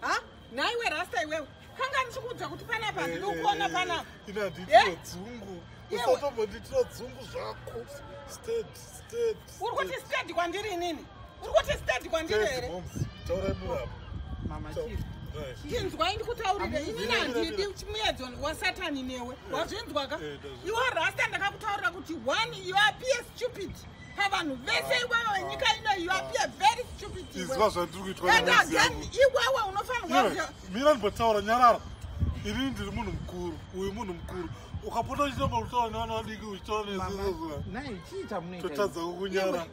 ha naiwe rasta iwewe kanga ndichikuudza kuti panapa handidi kuona panapa inanditinodzungu usatombonditira dzungu zvako state state uri kuti state kwandiri inini uri kuti state kwandiri here taurai murapa mama chii ndinzwai ndikutaurire ini nandidi muedzo wasatani newe wazvinzwaka iwe rasta ndakakutaurira kuti one you appear stupid pavanhu vese iwewe nyika ino yuapie very stupid iziva zvandiri kuitwaagain iwewe unofanirwa mira ndimbotaura nyarara ini ndiri munhu mukuru uyu munhu mukuru ukapota uchitamba kutaura nevana vadiki uchitaura nezototadza kukunyara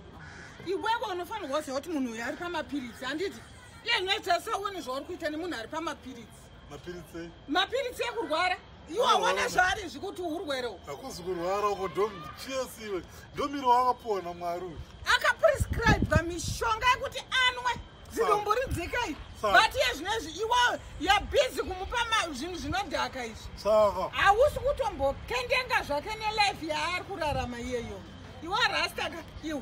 iwewe unofanirwa kuziva kuti munhu uyu ari pamapiritsi handiti iye noita seone zvauri kuita nemunhu ari pamapiritsi mapiritsi mapiritsi ekurwara iwe awana zvaari zvikuti urwere uko hakuzi kurwara uko ndochiesi iwe ndomiro wakapuwa namwari uyu akaprescribwa mishonga yekuti anwe zidumbu ridzika iri but iye zvino izvi iwewe yabhizi kumupa zvinhu zvinodhaka izvi saka hausi kutombokendenga zvake nelife yaari kurarama iyeyo iwe rastaka iwe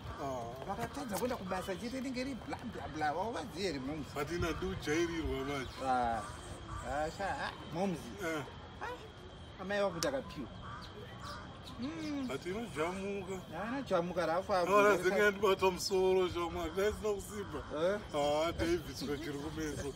Oh. vakatadza kuenda kubasa chete inenge ri bla bla bla vauvaziye here moms but ina ndi ujairirwa manje ah, ah, sha ah, moms eh. amai vakuti akapiwa hmm. but inojamuka anajamuka rafaorazinga ndibata musoro shamwari daisina kusimba eh? ah, david sokiri kumeso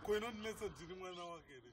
Ko inondinetsa ndiri mwana wake here?